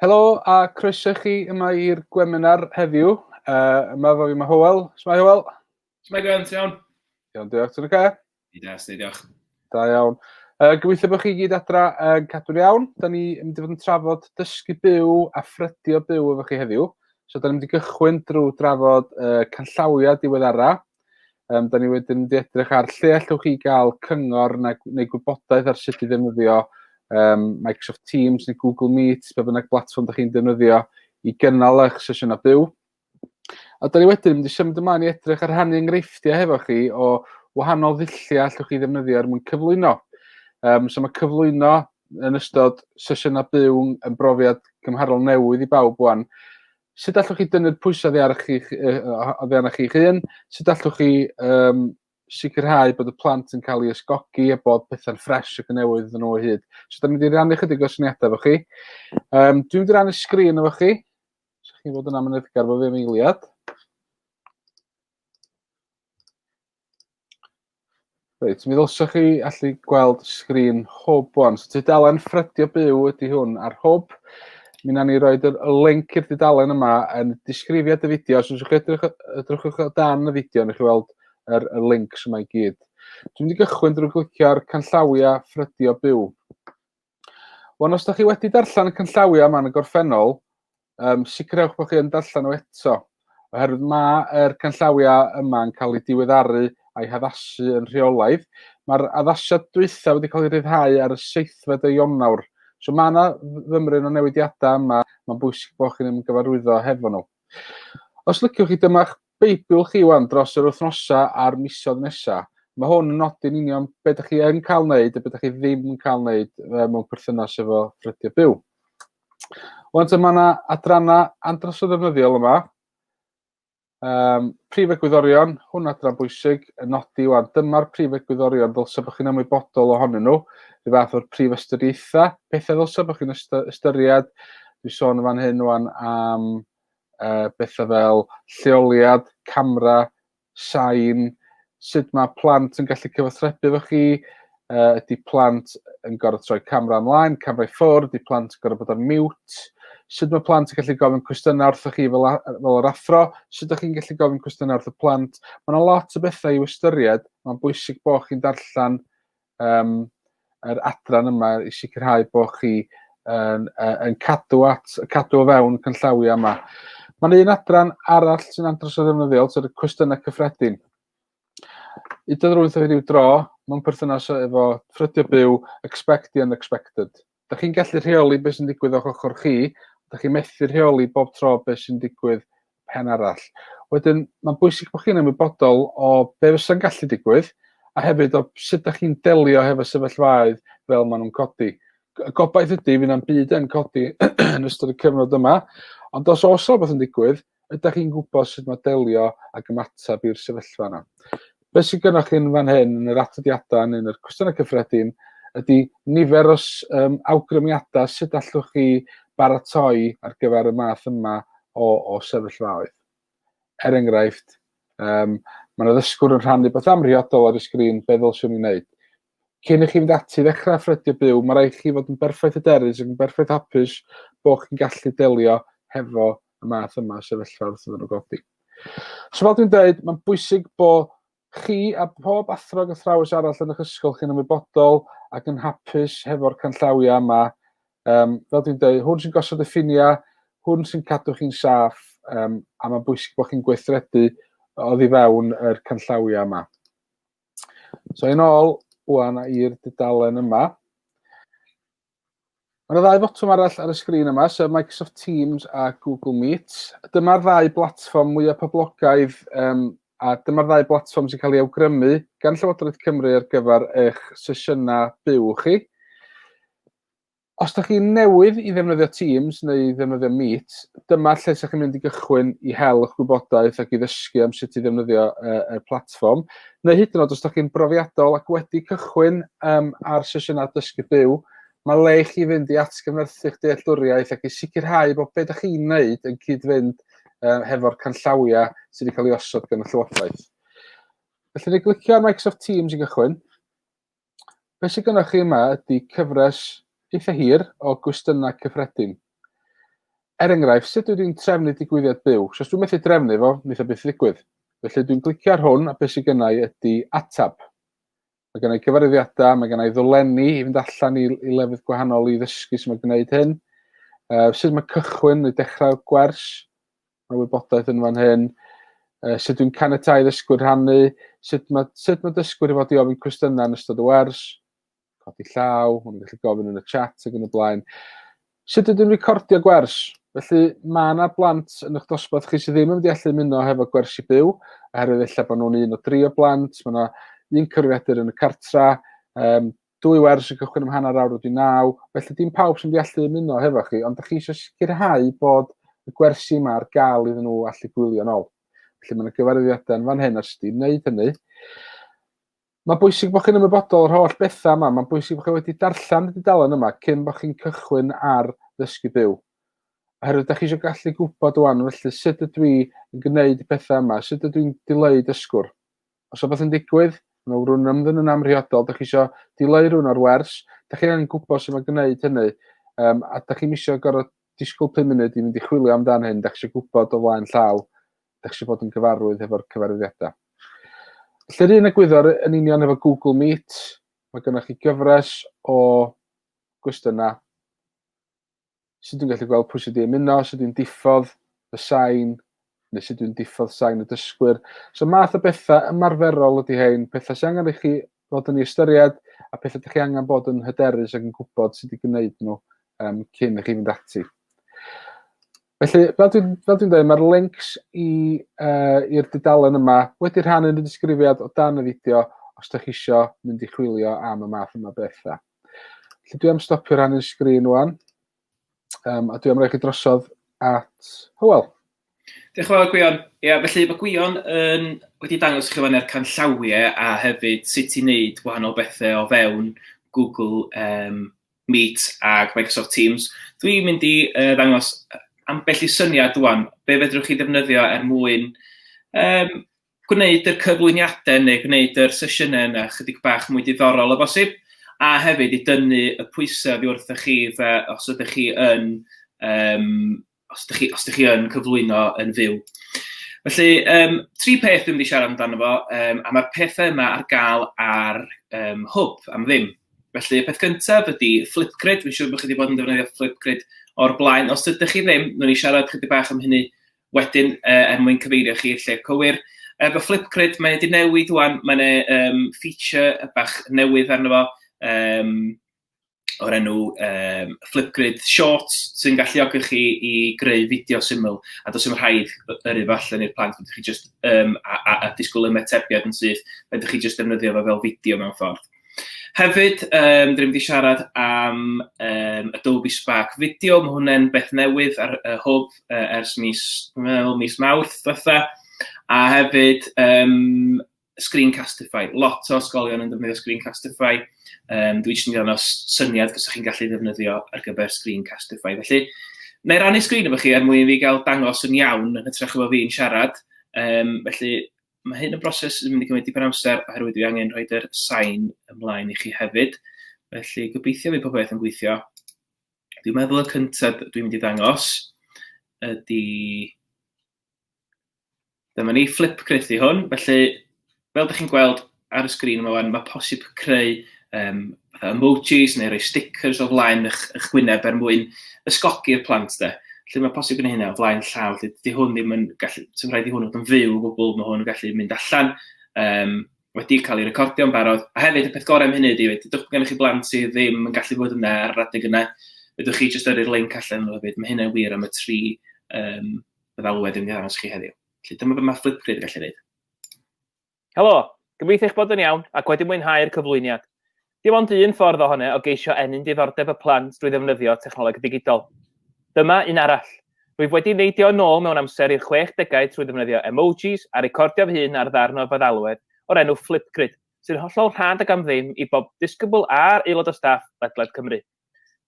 Helo a croeso i chi yma i'r gweminar heddiw. Uh, yma fo fi mae Howell. Smae Howell? Smae Gwen, ti'n iawn? Iawn, diolch. Ti'n oce? I da, sni, diolch. Da iawn. Uh, gobeithio bod chi gyd adra yn uh, cadw'n iawn. Da ni yn mynd i fod yn trafod dysgu byw a ffrydio byw efo chi heddiw. So da ni'n mynd i gychwyn drwy drafod uh, canllawiau diweddara Um, da ni wedyn wedi edrych ar lle allwch chi gael cyngor neu, neu gwybodaeth ar sut i ddefnyddio um, Microsoft Teams neu Google Meet, pe bynnag blatfform da chi'n defnyddio i gynnal eich sesiwn a byw. A da ni wedyn wedi symud ymlaen i edrych ar rhannu enghreifftiau hefo chi o wahanol ddulliau allwch chi ddefnyddio er mwyn cyflwyno. Um, so mae cyflwyno yn ystod sesiynau byw yn brofiad gymharol newydd i bawb wan. sut allwch chi dynnu'r pwysau oddi ar chi'ch oddi arnoch chi'ch hun? Sut allwch chi um, sicrhau bod y plant yn cael ei ysgogi a bod pethau'n ffres ac yn newydd yn o'i hyd? So, da ni'n mynd i rannu chydig o syniadau efo chi. Um, dwi'n mynd i rannu sgrin efo chi. So, chi'n bod yn amyneddgar fo fi am eiliad. Reit, mi ddylsach chi allu gweld sgrin hwb wan. So tudalen ffrydio byw ydy hwn ar hwb. Mi na ni roed y link i'r dudalen yma yn disgrifiad y fideo. Os ydych chi edrych, edrychwch o dan y fideo, nech chi weld yr, y links yma i gyd. Dwi'n mynd i gychwyn drwy glicio'r canllawiau ffrydio byw. Wel, os da chi wedi darllen y cynllawiau yma yn y gorffennol, um, sicrhewch bod chi yn darllen nhw eto, oherwydd mae yr cynllawiau yma yn cael eu diweddaru a'i haddasu yn rheolaidd. Mae'r addasiad dwytha wedi cael ei ryddhau ar y seithfed o Ionawr. So mae yna fymryn o newidiadau yma, mae'n bwysig bod chi'n ymgyfarwyddo hefo nhw. Os lyciwch chi, dyma'ch Beibiwch chi ŵan dros yr wythnosau a'r misoedd nesaf. Mae hwn yn nodi'n union beth ydych chi yn cael wneud a beth ydych chi ddim yn cael wneud mewn perthynas efo ffrydio byw. Wan te mae yna adrannau andros o ddefnyddiol yma. Um, prif egwyddorion, hwn adran bwysig, yn nodi wan, dyma'r prif egwyddorion fel sef chi'n ymwybodol ohonyn nhw, rhyw fath o'r prif ystyriaethau, pethau fel sef chi'n ystyried, dwi'n sôn yn fan hyn wan am uh, bethau fel lleoliad, camera, sain, sut mae plant yn gallu cyfathrebu efo chi, uh, ydy plant yn gorfod troi camera ymlaen, camera i ffwrdd, ydy plant yn gorfod bod ar mute, sut mae plant yn gallu gofyn cwestiynau wrthoch chi fel, fel yr athro, sut ydych chi'n gallu gofyn cwestiynau wrth y plant. Mae yna lot o bethau i'w ystyried, mae'n bwysig bod chi'n darllen um, yr adran yma i sicrhau bod chi yn, yn cadw at, cadw o fewn cynllawiau yma. Mae'n un adran arall sy'n andros o ddefnyddiol, sef y cwestiynau cyffredin. Udo rwy'n rhyw dro, mewn perthynas efo ffrydio byw, expect the unexpected. da chi'n gallu rheoli beth sy'n digwydd o'ch ochr chi, da chi'n methu rheoli bob tro beth sy'n digwydd pen arall. Wedyn, mae'n bwysig bod chi'n ymwybodol o be fysa'n gallu digwydd, a hefyd o sut da chi'n delio hefo sefyllfaoedd fel maen nhw'n codi. Y gobaith ydy, fydd na'm byd yn codi yn ystod y cyfnod yma, ond os oes rhywbeth yn digwydd, Ydach chi'n gwybod sut mae delio ac ymateb i'r sefyllfa yna? Be sydd gennych chi'n fan hyn yn yr atodiadau neu yn yr cwestiynau cyffredin ydy nifer o um, awgrymiadau sut allwch chi baratoi ar gyfer y math yma o, o sefyllfaoedd. Er enghraifft, um, mae yna ddysgwr yn rhannu beth amhriodol ar y sgrin, be ddylswn i'n wneud? Cyn i chi fynd ati i ddechrau ffrydio byw, mae rhaid chi fod yn berffaith hyderus ac yn berffaith hapus bod chi'n gallu delio hefo y math yma o sefyllfa wrth iddyn nhw godi. So fel dwi'n dweud, mae'n bwysig bod chi a pob athro ac athrawes arall yn eich ysgol chi'n ymwybodol ac yn hapus hefo'r canllawiau yma. Um, fel dwi'n dweud, hwn sy'n gosod y ffiniau, hwn sy'n cadw chi'n saff, um, a mae'n bwysig bod chi'n gweithredu oddi fewn yr canllawiau yma. So yn ôl wan i'r dudalen yma. Mae yna ddau fotwm arall ar y sgrin yma, sef Microsoft Teams a Google Meet. Dyma'r ddau blatfform mwyaf poblogaidd um, a dyma'r ddau blatfform sy'n cael ei awgrymu gan Llywodraeth Cymru ar gyfer eich sesiynau byw chi. Os ydych chi newydd i ddefnyddio Teams neu i ddefnyddio Meet, dyma lle ydych chi'n mynd i gychwyn i hel eich gwybodaeth ac i ddysgu am sut i ddefnyddio y platfform. Neu hyd yn oed os ydych chi'n brofiadol ac wedi cychwyn um, ar sesiynau dysgu byw, mae le i chi fynd i atgyfnerthu'ch dealltwriaeth ac i sicrhau bod beth ydych chi'n gwneud yn cyd-fynd uh, hefo'r canllawiau sydd wedi cael ei osod gan y Llywodraeth. Felly, ni glicio ar Microsoft Teams i gychwyn. Be sydd gynnwch chi yma ydy cyfres eitha hir o gwestiynau cyffredin. Er enghraifft, sut dwi'n trefnu digwyddiad byw? So os dwi'n methu trefnu fo, wnaeth o byth ddigwydd. Felly dwi'n glicio ar hwn a beth sydd gennau ydy atab. Mae gennau cyfarwyddiadau, mae gennau ddolenni i fynd allan i, i lefydd gwahanol i ddysgu sy'n gwneud hyn. Uh, sut mae cychwyn neu dechrau gwers? Mae wybodaeth yn fan hyn. Uh, sut dwi'n caniatau ddysgwyr rhannu, sut mae, sut mae dysgwyr i fod i ofyn cwestiynau yn ystod y wers, codi llaw, hwn gallu gofyn yn y chat ac yn y blaen. Sut ydyn recordio gwers? Felly mae yna blant yn eich dosbarth chi sydd ddim yn mynd i allu ymuno hefo gwersi byw, oherwydd efallai bod nhw'n un o dri o blant, mae yna un cyfrifiadur yn y cartra, um, dwy wers yn cychwyn am hanner awr wedi naw, felly dim pawb sy'n deallu ymuno hefo chi, ond da chi eisiau sicrhau bod y gwersi yma ar gael iddyn nhw allu gwylio'n ôl. Felly mae'n gyfarwyddiadau yn fan hyn os ydy'n wneud hynny. Mae bwysig bod chi'n ymwybodol o'r holl bethau yma. Mae'n bwysig bod chi wedi darllen y dudalen yma cyn bod chi'n cychwyn ar ddysgu byw. Oherwydd da chi eisiau gallu gwybod o'n felly sut ydw i yn gwneud y pethau yma, sut ydw i'n dileu dysgwr. Os rhywbeth yn digwydd, mae rhywun yn ymddyn yn amrhiodol, da chi eisiau dileu rhywun o'r wers, da chi angen gwybod sy'n mae'n gwneud hynny, um, a da chi'n eisiau gorau disgwyl 5 munud i fynd i chwilio amdan hyn, da chi eisiau gwybod o flaen llaw, da chi eisiau bod yn gyfarwydd efo'r cyfarwyddiadau. Lle'r un egwyddor yn union efo Google Meet, mae gennych chi gyfres o gwestiynau sut dwi'n gallu gweld pwy sydd wedi ymuno, sut dwi'n diffodd y sain, neu sut dwi'n diffodd sain y dysgwyr. So math o bethau ymarferol ydy hein, pethau sy'n angen i chi fod yn ei ystyried a pethau ydych chi angen bod yn hyderus ac yn gwybod sut i gwneud nhw um, cyn i chi fynd ati. Felly, fel dwi'n dwi, dwi dweud, mae'r links uh, i'r dudalen yma wedi rhannu yn y disgrifiad o dan y fideo os ydych chi eisiau mynd i chwilio am y math yma bethau. Felly dwi am stopio rhannu'r sgrin wan. Um, a dwi am roi chi drosodd at Hywel. Diolch yn fawr Gwion. Ia, felly mae Gwion yn wedi dangos chi fan e'r canllawiau a hefyd sut i wneud wahanol bethau o fewn Google um, Meet ac Microsoft Teams. Dwi'n mynd i uh, ddangos ambell i syniad dwan, be fedrwch chi ddefnyddio er mwyn um, gwneud y cyflwyniadau neu gwneud yr sesiynau yna chydig bach mwy diddorol o bosib, a hefyd i dynnu y pwysau oddi wrthoch chi fe os ydych chi yn um, os ydych chi, os ydych chi yn cyflwyno yn fyw. Felly, um, tri peth dwi'n mynd i siarad amdano fo, um, a mae'r pethau yma ar gael ar um, hwb am ddim. Felly, y peth gyntaf ydy Flipgrid. Fi'n siŵr bod chi wedi bod yn defnyddio Flipgrid o'r blaen. Os ydych chi ddim, nhw'n i siarad chydig bach am hynny wedyn yy er mwyn cyfeirio chi i'r lle cywir. Efo Flipgrid mae e 'di newid ŵan, mae 'na um, feature bach newydd arno fo, um, o'r enw um, Flipgrid Shorts, sy'n galluogi chi i greu fideo syml, a dos dim rhaid yr efo allan i'r plant, ydych chi just, um, a, a, a disgwyl ymetebiad yn syth, ydych chi just defnyddio fo fel fideo mewn ffordd. Hefyd, um, dyn wedi siarad am um, Adobe Spark Video, mae hwnna'n beth newydd ar y hwb uh, ers mis, well, mis mawrth dda. a hefyd um, Screencastify. Lot o ysgolion yn defnyddio Screencastify. Um, dwi eisiau gwneud syniad gyda chi'n gallu ddefnyddio ar gyfer Screencastify. Felly, na i rannu sgrin efo chi er mwyn i fi gael dangos yn iawn yn hytrach efo fi'n siarad. Um, felly, Mae hyn yn broses sy'n mynd i gymryd dipyn o amser oherwydd dwi angen rhoi yr sain ymlaen i chi hefyd. Felly gobeithio fydd popeth yn gweithio. Dwi'n meddwl y cyntaf dwi'n mynd i ddangos ydy... Dyma ni, flip cryth i hwn. Felly, fel ydych chi'n gweld ar y sgrin yma wan, mae posib creu um, fatha emojis neu rhoi stickers o flaen eich, eich gwyneb er mwyn ysgogi'r plant de. Lle mae posib yn hynna o flaen llaw, lle di hwn ddim yn gallu, sy'n rhaid i hwn fod yn fyw o gwbl, mae hwn yn gallu mynd allan, um, wedi cael ei recordio'n barod. A hefyd, y peth gorau am hynny ydy, wedi, dwch gennych chi blant sydd ddim yn gallu bod yna ar yr adeg yna, ydych chi jyst yrru'r link allan nhw hefyd. Mae hynny'n wir am y tri um, y ddalwedd yn gyda'n chi heddiw. Felly dyma beth mae Flipgrid yn gallu gwneud. Helo! Gobeithio eich bod yn iawn ac wedi mwynhau'r cyflwyniad. Dim ond un ffordd ohone o geisio ennyn diddordeb y plant drwy ddefnyddio technoleg ddigidol. Dyma un arall. Rwyf wedi neidio yn ôl mewn amser i'r chwech degau trwy ddefnyddio emojis a recordio fy hun ar ddarn o feddalwedd o'r enw Flipgrid, sy'n hollol rhad ac am ddim i bob disgybl a'r aelod o staff ledled Cymru.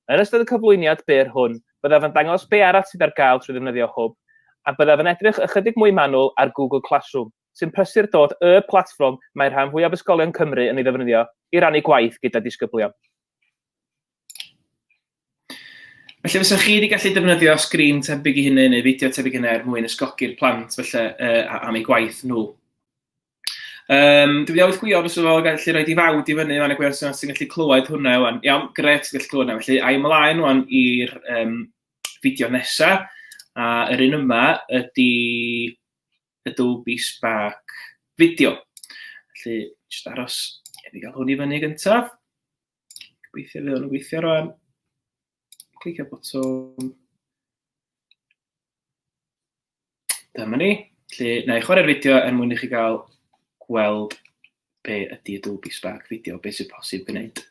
Yn ystod y cyflwyniad byr hwn, byddaf yn dangos be arall sydd ar gael trwy ddefnyddio Hwb, a byddaf yn edrych ychydig mwy manwl ar Google Classroom. sy'n prysur dod y platfform mae rhan fwyaf ysgolion Cymru yn ei ddefnyddio i rannu gwaith gyda disgyblion. Felly fysa chi wedi gallu defnyddio sgrin tebyg i hynny neu fideo tebyg hynny er mwyn ysgogi'r plant felly uh, am ei gwaith nhw. Um, dwi wedi awydd gwio os yw o'n gallu rhoi di fawd i fyny, mae'n y gwir sy'n gallu clywed hwnna yw Iawn, gret, gallu clywed hwnna. Felly, a'i ymlaen o'n i'r um, fideo nesaf. A yr un yma ydy Adobe Spark fideo. Felly, jyst aros i fi gael hwn i fyny gyntaf. Gobeithio fydd o'n gweithio rwan. Clicio botwm. Dyma ni. Felly, na i chwarae'r fideo er mwyn i chi gael gweld be ydy Adobe Spark fideo, beth sy'n posib gwneud.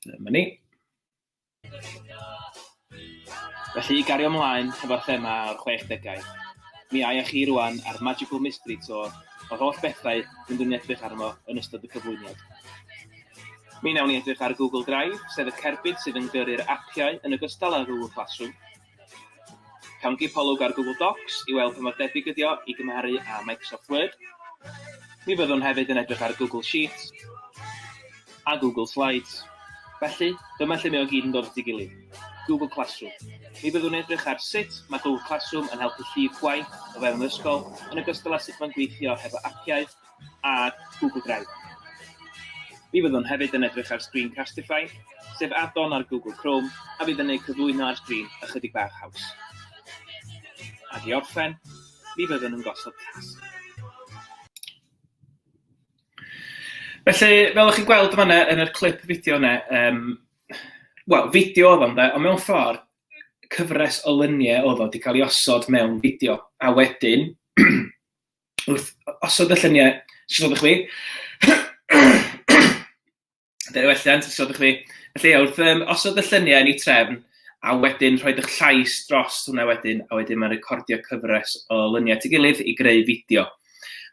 Dyma ni. Felly, i gario mlaen hefo'r thema o'r chwechdegau, mi aia chi rwan ar Magical Mystery Tour o'r holl bethau fyndwn ni edrych arno yn ystod y cyflwyniad. Mi wnawn ni edrych ar Google Drive, sef y cerbyd sydd yn gyrru'r apiau yn ogystal â Google Classroom, Cawn gipolwg ar Google Docs i weld pa mor debyg ydi o i gymharu â Microsoft Word. Mi fyddwn hefyd yn edrych ar Google Sheets a Google Slides. Felly, dyma lle mae o gyd yn dod at ei gilydd, Google Classroom. Mi fyddwn edrych ar sut mae Google Classroom yn helpu llif gwaith o fewn yr ysgol, yn ogystal â sut mae'n gweithio hefo apiau a Google Drive. Mi fyddwn hefyd yn edrych ar sgrin Castify, sef add-on ar Google Chrome a fydd yn eu cyflwyno ar sgrin ychydig bach haws. Ac i orffen, mi fyddwn yn gosod cas. Felly, fel ych chi'n gweld yma yn yr clip fideo yna, um, wel, fideo oedd o'n dda, ond mewn ffordd, cyfres o lyniau oedd o wedi cael ei osod mewn fideo. A wedyn, wrth osod y lluniau, sgwrdd ydych chwi. Dyna welliant, sgwrdd ydych chwi. Felly, wrth um, osod y lluniau yn ei trefn, a wedyn rhoi eich llais dros hwnna wedyn, a wedyn mae'n recordio cyfres o lyniau at ei gilydd i greu fideo.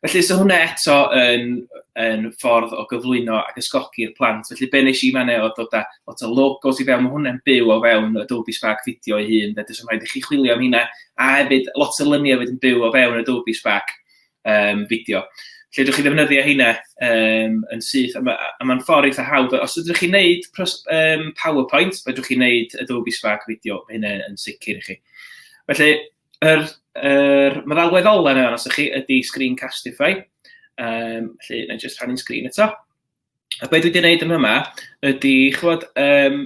Felly, so hwnna eto yn, yn ffordd o gyflwyno ac ysgogi'r plant. Felly, be nes i fan o dod â lot o logos i fewn, mae hwnna'n byw o fewn y Dolby Spark fideo ei hun, fe dwi'n rhaid i chi chwilio am hynna, A hefyd, lot o luniau wedyn byw o fewn Adobe Spark um, fideo. Lle ydych chi ddefnyddio heina um, yn syth, a mae'n ma ffordd eitha hawdd. Os ydych chi'n neud um, PowerPoint, fe ydych chi'n neud Adobe Spark fideo, mae hynny yn sicr i chi. Felly, yr, yr meddalwedd ola yna, os ydych chi, ydy Screencastify. Um, felly, na i just rhannu'n sgrin eto. A beth dwi wedi gwneud yn yma ydy, chwod, um,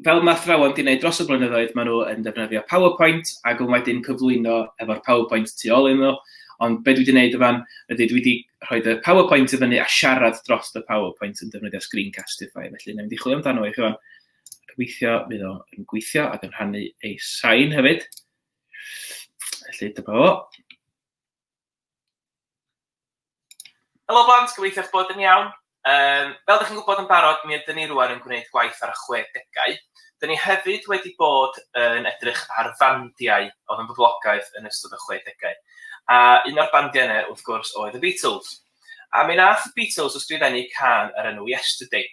fel mae athrawon wedi gwneud dros y blynyddoedd, maen nhw yn defnyddio PowerPoint ac yn wedyn cyflwyno efo'r PowerPoint tu ôl iddyn nhw. Ond be dwi wedi gwneud yfan ydy dwi wedi rhoi y PowerPoint i fyny a siarad dros y PowerPoint yn defnyddio Screencastify. Felly, na i wedi chwilio amdano i chi fan. Gobeithio fydd o'n gweithio ac yn rhannu ei sain hefyd. Felly, dyma fo. Helo blant, gobeithio eich bod yn iawn. Um, fel ydych chi'n gwybod yn barod, mi ydym ni rwan yn gwneud gwaith ar y 60au. Dyn ni hefyd wedi bod yn edrych ar fandiau oedd yn boblogaidd yn ystod y 60au. A un o'r bandiau yna, wrth gwrs, oedd y Beatles. A mi nath y Beatles ysgrifennu can ar enw Yesterday.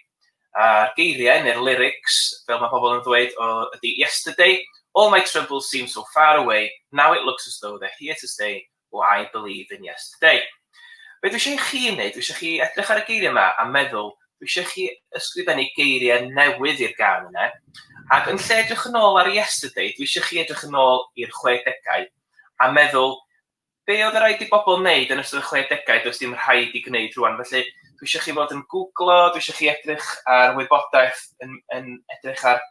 a'r geiriau neu'r lyrics fel mae pobl yn ddweud o ydy Yesterday, all my troubles seem so far away, now it looks as though they're here to stay, oh I believe in yesterday. Be dwi eisiau i chi wneud, dwi eisiau chi edrych ar y geiriau yma a meddwl, dwi eisiau chi ysgrifennu geiriau newydd i'r gan yna, ac yn lle edrych yn ôl ar yesterday, dwi eisiau chi edrych yn ôl i'r 60au a meddwl Be oedd raid i bobl wneud yn ystod y chwedegau does dim rhaid i gwneud rwan felly dwi eisiau chi fod yn gwglo, dwi eisiau chi edrych ar wybodaeth yn, yn edrych ar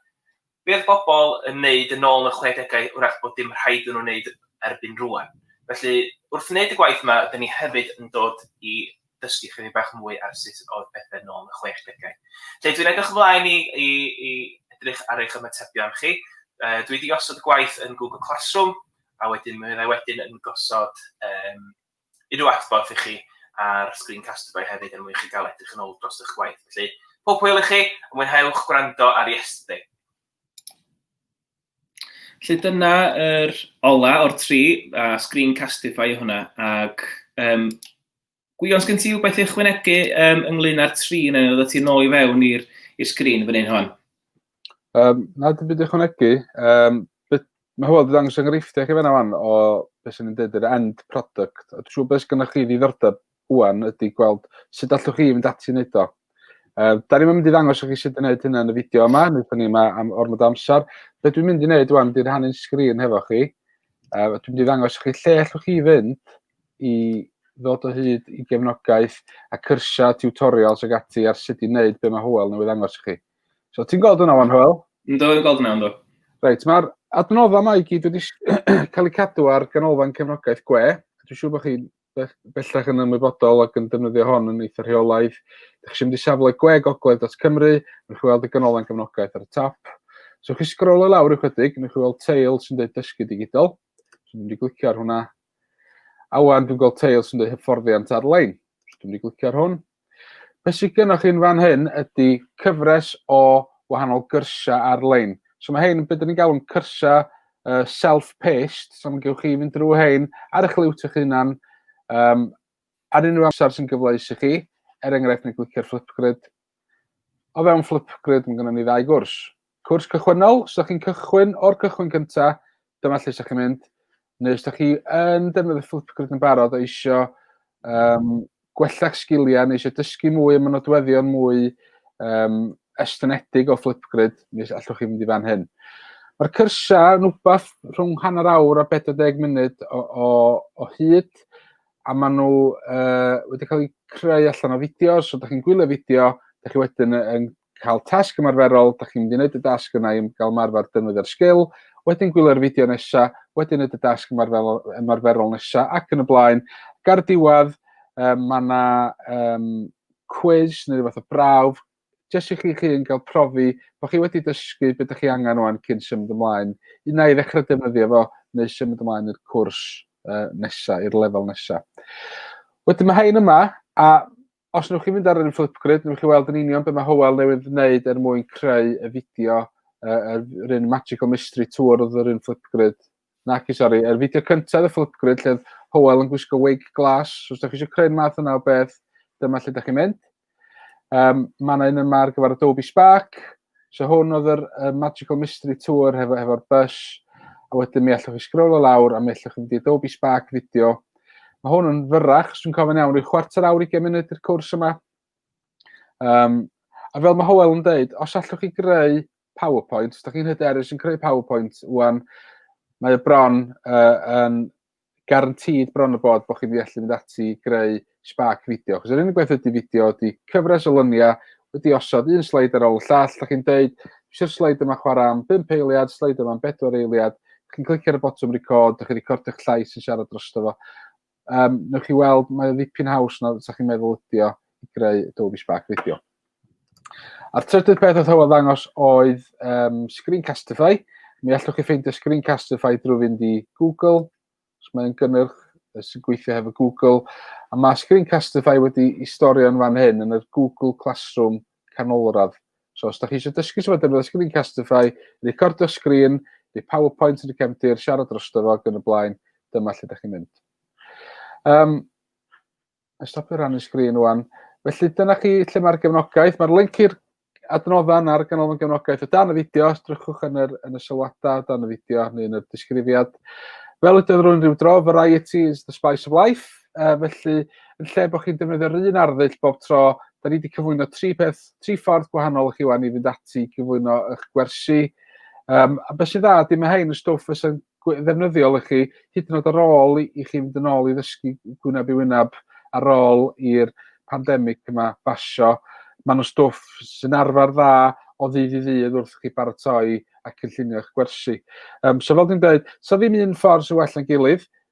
be oedd bobl yn wneud yn ôl yn y chwedegau wrach bod dim rhaid iddyn nhw wneud erbyn rwan. Felly wrth wneud y gwaith yma ydyn ni hefyd yn dod i dysgu chydig bach mwy ar sut oedd pethau yn ôl yn y chwedegau. Felly dwi'n edrych ymlaen i, i, i edrych ar eich ymatebion chi. Uh, dwi wedi osod gwaith yn Google Classroom a wedyn mi fyddai wedyn yn gosod um, unrhyw adborth i chi ar Screen Casterboy hefyd er mwyn chi gael edrych yn ôl dros eich gwaith. Felly, pob hwyl i chi, a mwynhewch gwrando ar Yesterday. Felly dyna yr er ola o'r tri, a Screen Castify hwnna, ac um, Gwion, sgyn ti rhywbeth i ychwanegu um, ynglyn â'r tri neu oedd ti'n nôl i fewn i'r sgrin fan hyn hon? Um, na, dim byd ychwanegu. Um, mae hwyl wedi dangos enghreifftiau chi fanna fan o beth sy'n dweud yr end product. A dwi'n siŵr beth sy'n chi ddiddordeb hwan ydy gweld sut allwch chi fynd ati wneud o. Uh, da ni'n mynd i ddangos chi sut i wneud hynna yn y fideo yma, nid ni yma am ormod amser. Be dwi'n mynd i wneud wan, dwi'n rhannu'n sgrin hefo chi. Uh, dwi'n mynd i ddangos chi lle allwch chi fynd i ddod o hyd i gefnogaeth a cyrsiau, tutorials ac ati ar sut i wneud be mae Hywel newydd angos i chi. So, ti'n gweld hwnna wan, Hywel? Ynddo, yn gweld hwnna, ynddo. Reit, mae'r adnoddau mae i gyd wedi cael eu cadw ar ganolfan cefnogaeth gwe. Dwi'n siŵr bod chi bellach yn ymwybodol ac yn defnyddio hon yn eitha rheolaidd. Dych chi eisiau mynd i safle gwe gogledd.cymru, newch chi weld y ganolfan gefnogaeth ar y top. So chi sgrol y lawr ychydig, newch chi weld teil sy'n dweud dysgu digidol. So dwi'n mynd i glicio ar hwnna. A wan dwi'n gweld teil sy'n dweud hyfforddiant ar-lein. So dwi'n mynd i glicio ar hwn. Be sydd gennych chi'n fan hyn ydy cyfres o wahanol gyrsiau ar-lein. So mae hyn yn beth ni'n galw'n cyrsiau uh, self-paced, so mae gewch chi fynd drwy hyn ar eich liwt eich hunan, um, ar unrhyw amser sy'n gyfleus i chi, er enghraifft neu glicio'r Flipgrid. O fewn Flipgrid mae gennym ni ddau gwrs. Cwrs cychwynnol, os ydych chi'n cychwyn o'r cychwyn cyntaf, dyma lle ydych chi'n mynd, neu os ydych chi yn defnyddio Flipgrid yn barod o eisiau um, gwella'ch sgiliau neu eisiau dysgu mwy am y nodweddion mwy um, estynedig o Flipgrid, neu allwch chi fynd i fan hyn. Mae'r cyrsau yn wbath rhwng hanner awr a 40 munud o, o, o hyd, a maen nhw uh, wedi cael eu creu allan o fideo, so da chi'n gwylio fideo, da chi wedyn yn cael tasg ymarferol, da chi'n mynd i wneud y dasg yna i gael ymarfer dynwydd ar sgil, wedyn gwylio'r fideo nesaf, wedyn wneud y dasg ymarferol, ymarferol nesaf ac yn y blaen. Ga'r diwedd, um, mae yna um, quiz neu rhywbeth o brawf, jyst i chi'ch hun gael profi bod chi wedi dysgu beth ydych chi angen o'n cyn symud ymlaen. Un na i ddechrau defnyddio fo neu symud ymlaen i'r cwrs uh, nesaf, i'r lefel nesaf. Wedyn mae hein yma, a os newch chi fynd ar un Flipgrid, newch chi weld yn union beth mae Howell newydd wneud er mwyn creu y fideo, uh, yr un Magical Mystery Tour oedd yr un Flipgrid Naci, sori. Yr fideo cyntaf y Flipgrid lle oedd Howell yn gwisgo wig glas. Os ydych chi eisiau creu math yna o beth, dyma lle ydych chi'n mynd. Um, mae yna un yma ar gyfer Adobe Spark. So hwn oedd yr uh, Magical Mystery Tour hefo'r hefo bus. A wedyn mi allwch chi sgrol o lawr a mi allwch chi fynd i Adobe Spark fideo. Mae hwn yn fyrrach, os dwi'n cofyn iawn, rhyw chwarter awr i munud i'r cwrs yma. Um, a fel mae Howell yn dweud, os allwch chi greu PowerPoint. Da chi'n hyderus yn creu PowerPoint wan, mae y bron uh, yn garantid bron y bod bod chi'n wedi allu mynd ati greu spark fideo. Chos yr unig beth ydy fideo ydy cyfres o lyniau wedi osod un sleid ar ôl y llall. Da chi'n deud, eisiau'r sleid yma chwarae am 5 eiliad, sleid yma am 4 eiliad. Da chi'n clicio ar y botwm record, da chi'n recordio'ch llais yn siarad drosto fo. Um, newch chi weld, mae ddipyn haws na sa chi'n meddwl ydi o i greu Adobe Spark Video. A'r trydydd peth oedd hywel ddangos oedd um, Screencastify. Mi allwch chi ffeindio Screencastify drwy fynd i Google, os mae'n gynnyrch sy'n gweithio hefo Google, a mae Screencastify wedi i storio'n fan hyn yn y Google Classroom canolradd. So os da chi eisiau dysgu sut mae defnyddio sgrin Castify, recordio sgrin, neu PowerPoint yn y cefndir, siarad dros dyfo ac yn y blaen, dyma lle da chi'n mynd. Um, a stopio rannu sgrin o'n. Felly dyna chi lle mae'r gefnogaeth. Mae'r link i'r adnoddau ar ganolfan gefnogaeth o dan y fideo. Os drychwch yn, yr, yn y sylwadau o dan y fideo neu yn y disgrifiad. Fel ydydd rwy'n rhyw dro, variety is the spice of life. Uh, felly, yn lle bod chi'n defnyddio'r un arddull bob tro, Da ni wedi cyflwyno tri peth, tri ffordd gwahanol i chi wan i fynd ati i gyflwyno eich gwersi. Um, a beth sy'n dda, dim mae hyn y stwff fysa'n ddefnyddiol i chi, hyd yn oed ar ôl i, i chi fynd yn ôl i ddysgu gwyneb i wyneb ar ôl i'r pandemig yma basio. Mae nhw stwff sy'n arfer dda o ddydd i ddydd wrth chi baratoi a cynllunio eich gwersi. Um, so fel dwi'n dweud, so ddim un ffordd sy'n well na'n gilydd,